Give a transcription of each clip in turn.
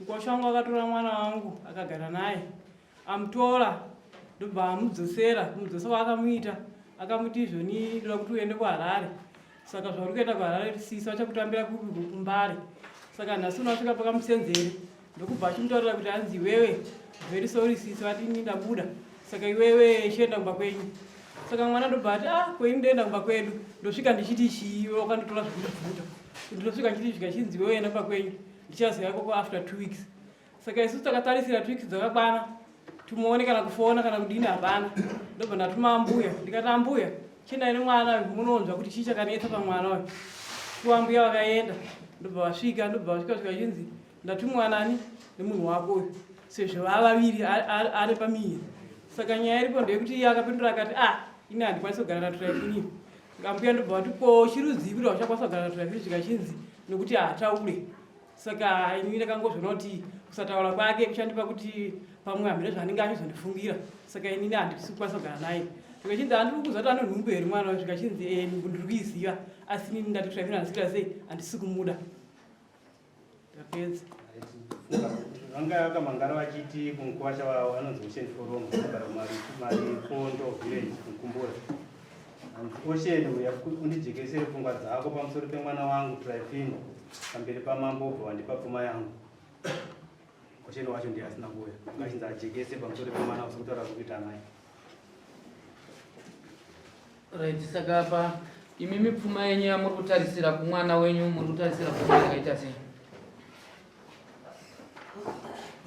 Mukosho wangu akatora mwana wangu akagara naye amutora ndobva amudzosera kumudzosa kwaakamuita akamuti izvoni ndoda kuti uende kuharare saka zvauri kuenda kuharare sisi vachakutambira kupi kumbare saka nhasi unasvika pakamusenzere ndokubva achimutaurira kuti hanzi iwewe very sorry sisi vati ini ndabuda saka iwewe chienda kumba kwenyu saka mwana ndobva ati ah kwenyu ndoenda kumba kwedu ndosvika ndichiti chii wakanditora zvekundibvuta ndosvika ndichiti zvika chinzi iwewe enda kumba kwenyu ndichaziva ikoko after two weeks saka isusu takatarisira two weeks dzakakwana timuone kana kufona kana kudini hapana ndobva ndatuma ambuya ndikati ambuya chinai nemwana uyu munonzwa kuti chii chakanetsa pamwana uyu kuwa ambuya vakaenda ndobva vasvika ndobva vasvika svika chinzi ndatumwa nani nemunhu wako uyu sezvo vava vaviri ari pamiri saka nyaya iripo ndeyekuti iye akapindura akati ah ini handikwanisi kugara naturaikuniyo Ambuya ndobva vati ko chiruzivi rwachakwanisa kugara zvazviri zvikachinzi nokuti haataure saka ini ndakangozviona kuti kusataura kwake kuchandipa kuti pamwe hamene zvaanenge achizondifungira saka inini handisi kukwanisa kugara naye zvikachinzi handiri kuziva kuti anonhumbu here mwana zvikachinzi eh, ndiri kuiziva asi inini ndati kushambira handisira sei handisi kumuda vanga vakamangara vachiti kumukwasha wavo anonzi ocean forum agara maripondo village mukumbura ocean uya undijekesere pfungwa dzako pamusoro pemwana wangu trifino pamberi pamambo obva wandipa pfuma yangu ocean wacho ndiye asina kuuya ngachinzi ajekese pamusoro pemwana usiri kutaura zvekuita naye Right, saka apa imi mipfuma yenyu yamuri kutarisira kumwana wenyu muri kutarisira pfuma yakaita sei?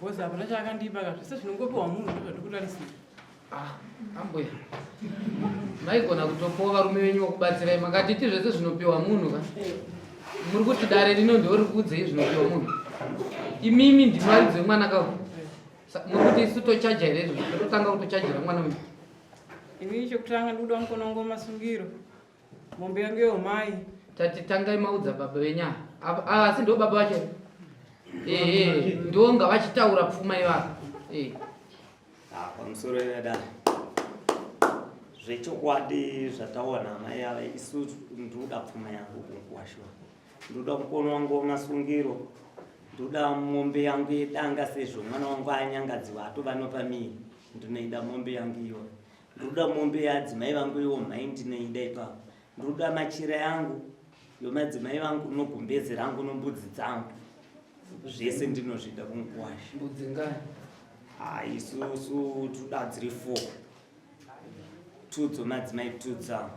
Boss hapana chaakandipa ka zvese zvinongopiwa munhu ndozvatikutarisira. Ah, ambuya. Maigona kutopawo varume venyu vokubatsirai makatiti zvese zvinopiwa munhu ka? Muri kuti dare rino ndiwo riri kuudzei zvinopiwa munhu? Imimi ndimwari dzemwana kawo. nokuti isu tochaja here izvozvo tototanga kutochajira mwana uyu ini chokutanga ndikuda mukonongo masungiro mombe yangu yeumai tati tangai maudza baba venyaya ah, asi ndo baba vacho ee ndonga vachitaura pfuma ivava ee ah, pamusoro yedai zvechokwadi zvataona amai ava isu ndikuda pfuma yangu kunguwashuwa ndoda kukonwa ngoma sungiro ndoda mombe yangu yedanga sezvo mwana wangu anyangadziwa atova nopamiri ndinoida mombe yangu iyoyo ndoda mombe yadzimai vangu iwo mhai ndinoida ipapo ndoda machira yangu yomadzimai vangu nogumbezi rangu nombudzi dzangu zvese ndinozvida kunguwasha mbudzi ngani haisusu toda dziri four Tudzo madzimai tudza.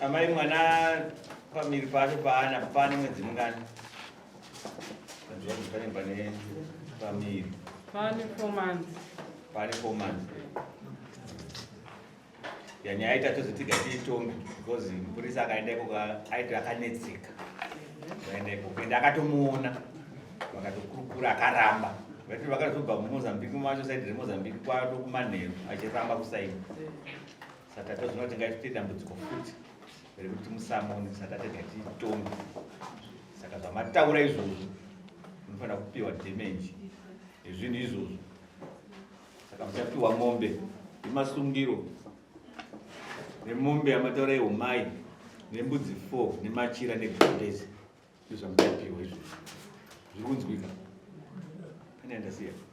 Amai mwana pamiri pacho paana pane mwedzi mungani? yanyaya aita tozotiga tiitonge because mupurisa akaenda ikoko aiti akanetseka akaenda ikoko ende akatomuona vakatokurukura akaramba vaiti vakazobva mumozambique macho saidi remozambique kwato kumanheru achiramba kusaini saka tozvina kuti ngaitite dambudziko futi rekuti musamone saka tega tiitonge saka zvamataura izvozvo munofanira kupiwa damage ezvinhu izvozvo saka muchapiwa mombe nemasungiro nemombe yamataura ihumai nembudzi four nemachira negondezi ndizvamuchapiwa izvozvo zviri kunzwika pane andasiya